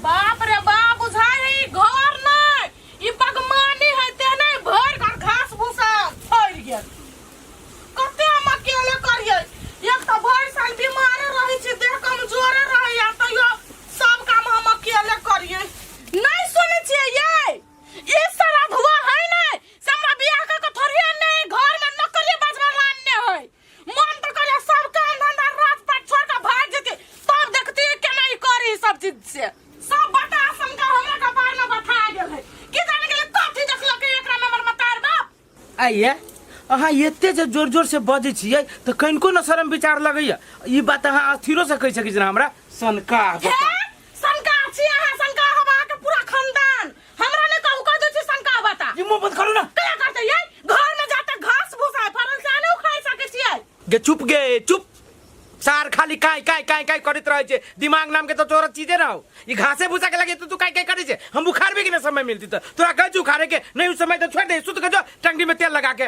बाप रे बा बुझाय है ई घर नै ई बगमानी है तेने भर घर घास भूसा फैल गेल कते हम अकेले करिए एक तो भर साल बीमारे रहै छी देह कमजोरे रहै या तैयो सब काम हम अकेले करिए नहीं सुने छिए ये ई सारा धुआ है नै से हमरा बियाह क के थोड़िए नै घर में नौकरी बजवा लानने है मन तऽ करे सब काम धंधा रात पाट छोड़ के भाग जेते तब देखती केना ई करी सब चीज से सब बता समझा हमरा के बारे में बता गेल है कि जाने के लिए कथी देखलक एकरा में हमर मतार बाप आइए अहाँ एते जे जोर जोर से बजै छियै तऽ कनिको न शर्म विचार लगैया ई बात अहाँ अस्थिरो से कहि सकै छी हमरा सनका हे शंका छी अहाँ शंका हम अहाँके पूरा खानदान हमरा ने कहू कह दे छी शंका बता ये मुंह बंद करू ना कया करते ये घर में जाते घास भूसा है फरन से आने उखाड़ सके छियै गे चुप गे चुप सार खाली काय काय काय काय करत रहे छे दिमाग नाम के तो तोरा चीजे ना हो ई घासे भूसा के लगे तो तू काय काय करे छे हम उखाड़बे के ना समय मिलती तो तोरा गज उखाड़े के नहीं उस समय तो छोड़ दे सुत के जो टंगड़ी में तेल लगा के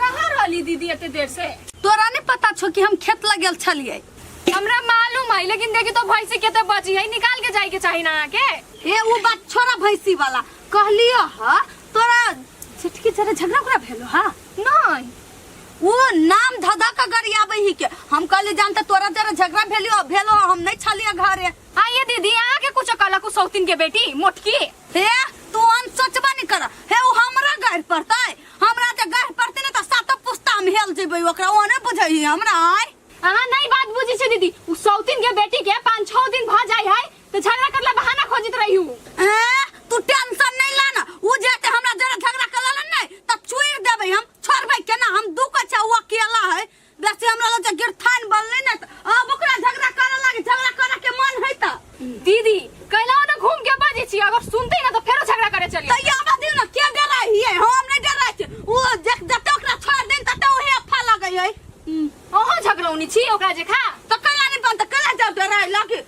कहाँ रहली दीदी एते देर से तोरा नहीं पता छो कि हम खेत लग गेल छलिए हमरा मालूम है लेकिन देखी तो भैंसी केते बची है निकाल के जाए के चाही ना अहाँ के ए वो बात छोरा भैंसी वाला कहलियो ह तोरा झटकी जरा झगड़ा उगड़ा भेलो हा नहीं वो नाम धधा का गरियाबे ही के हम कहले जानते तोरा जरा झगड़ा भेलियो भेलो ह, हम नहीं छलिए घरे आइए दीदी अहाँ के कुछ कला कुछ सौतीन के बेटी मोटकी हे तू अन सोचबा नहीं कर हे वो हमरा घर पड़ता है हमरा जे गढ़ पड़ते ने तऽ सातो पुस्ता हम हेल जेबै ओकरा ओ नहि बुझै है हमरा आय अहाँ नहीं बात बुझी छे दीदी उ सौतिन के बेटी के पाँच छह दिन भ जाय है तो झगड़ा करला बहाना खोजित रही हूँ ए, तू टेंशन नहीं ला ना उ जे ते हमरा जरा झगड़ा कर लेलन नहीं तब चुइर देबै हम छोड़बै केना हम दू को छै ओ अकेला है देखी हमरा लग जे गिरथान बनले ना त अब ओकरा झगड़ा करे लागे झगड़ा करे के मन है त दीदी कैला ना घूम के बाजी छी अगर सुनते ना तो फेरो झगड़ा करे चली तैया हमरा दिन ना के डराई हिए हम नहीं डराई छी ओ जत जत ओकरा छोड़ दिन तत ओहे अफा लगे है ओहो झगड़ौनी छी ओकरा जे खा त कैला नहीं बनत कैला जब डराई लागे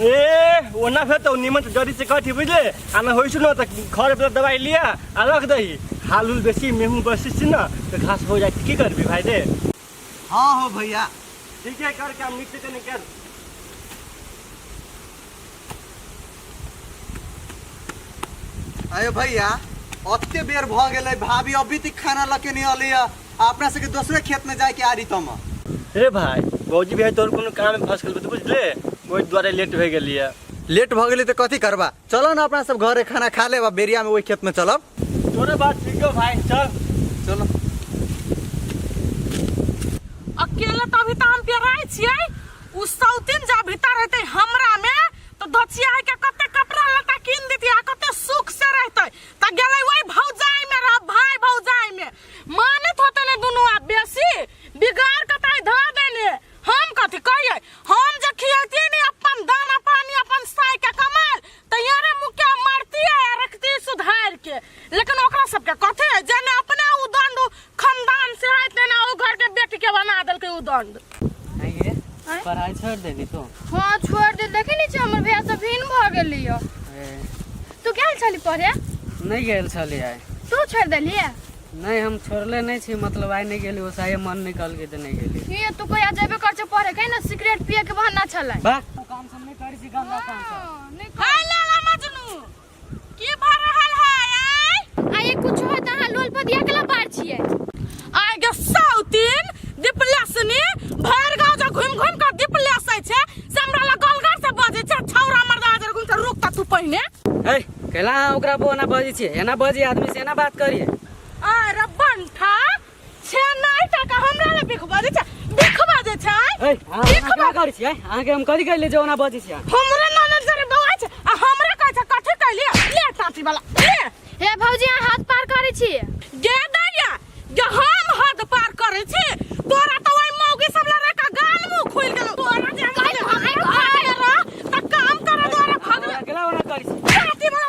ए ओना फेर तो नीमन से जड़ी से कटी बुझले आ ना होइसु ना त घर पे दवाई लिया आ रख दही हाल उल बेसी मेहू बसी छी ना तो घास हो जाए की करबी भाई रे हाँ हो भैया ठीक है कर काम नीचे कने कर अरे भैया अते बेर भऽ गेलै भाभी अभी तक खाना लके नहीं अलिया आ अपना सबके दोसरे खेत में जाए के आरी तम रे भाई भौजी भाई तोर कोनो काम में फंस गेल तू बुझले ओहि दुआरे लेट भए गेलिए लेट भ गेली तो कथी करबा चलो ना अपना सब घरे खाना खा लेबा बेरिया में वही खेत में चलब तोरे बात ठीक हो भाई चल चलो अकेले तो अभी तो हम पेराए छिए उ सौतिन जा भीतर रहते हमरा में तो धचिया है के कते कपड़ा लता कीन देती आ कते सुख से रहते त गेलै वही भौजाई में रह भाई भौजाई में मानत होते ने दुनू आब बेसी बिगाड़ के ताई धर देने हम कथी कहिए हम जे खियती ने अपन दाना पानी अपन साई के कमाल त यारे मुके मारती है आ रखती सुधार के लेकिन ओकरा सब के कथी है जेने अपने उदंड खानदान से है तेने ओ घर के बेटी के बना देलकै उदंड आँय गे आँय? पढ़ाइ छोड़ि देली तू हाँ छोड़ दे देखे नहीं छे हमर भैया सब भिन्न भ गेली हो ए, तू गेल छली पढ़े नहि गेल छली आइ तू छोड़ देलिए नहि हम छोड़ले नहि छी मतलब आइ नहि गेली ओसाए मन नहि कहलकै तऽ नहि गेली ये तू कोई जेबे कर छे पढ़े कहीं ना सिगरेट पिए के बहाना छले बा काम सब नहि करै छी गंदा काम सब हाँ, नहीं कर- की भऽ रहल है आय आय कुछ है त अहाँ लोल पदिया कला पार छियै आय के साउतिन दिपलेसनी भर गांव जे घुम घुम के दिपलेस है छै से हमरा लग गलगर से बजे छै छौरा मर्दा जे घुम से रुक त तू पहिने ए कैला अहाँ ओकरा पर ओना बजै छियै एना बजी आदमी से एना बात करिए अरे बंठा छे नहि टाका हमरा लए बिख बजै छै बिख बजै छै ए अहाँ की खबर? अहाँ करै छियै अहाँके हम कथी कहले जे ओना बजै छियै हमरा नाना जरे बौआ छै आ हमरा कहै छै कथी कहलिए ले टाटी वाला ले हे भौजी अहाँ हाथ पार करै छी गे दैया जे हम हद पार करै छी तोरा तऽ ओइ मौगी सब लड़ा का गाल मुंह खुल गेल तोरा जे हम हमरा घर रह तऽ काम करऽ द्वारा भगले अगला ओना करै छियै टाटी वाला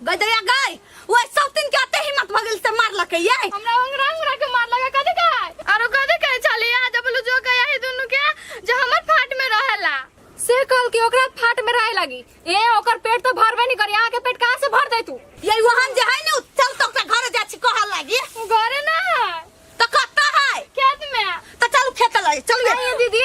गई दैया गई ओए सब दिन के अते हिम्मत भगल से मार लके ये हमरा अंगरा अंगरा के मार लगा कदे काय आरो कदे काय चली आ जब लो जो गया है दोनों के जो हमर फाट में रहेला से कल के ओकरा फाट में रहे लगी ए ओकर पेट तो भरबे नहीं करी आके पेट कहां से भर दे तू ये वहन जे है ने उ चल तो के घर जा छी कहल लागी घरे ना है तो कत्ता है खेत में तो चल खेत लागी चल ये दीदी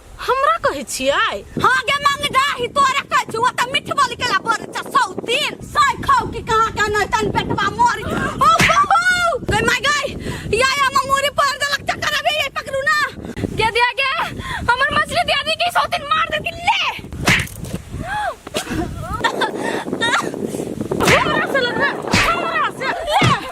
हमरा कहै छियै हां गे मंगडाही तोरे कहै छी ओ त मिठ बोल केला बर छ सौतीन साइ खाओ कि कहां का नै तन पेटवा मोरी ओ हो गई माय गई या या ममोरी पर देलक चक्कर अभी ये पकड़ू ना गे दिया गे हमर मछली दिया दी कि सौतीन मार दे कि ले हमरा से लग रहा हमरा से ले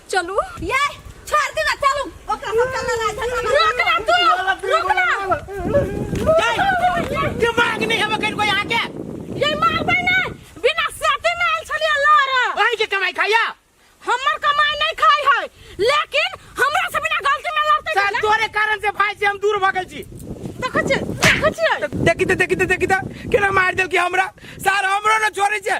चलू ये छोड़ दे ना चलू ओकरा सब चल रहा है रुक ना तू रुक ना दिमाग नहीं हमें कहीं कोई आके ये मार भाई ना बिना साथे में आयल छलिया लड़ वही के कमाई खाया हमर कमाई नहीं खाई है लेकिन हमरा से बिना गलती में लड़ते सर तोरे कारण से भाई से हम दूर भगल छी देखो छी देखो छी देखी तो देखी तो देखी तो केना मार देल कि हमरा सर हमरो न छोड़े छे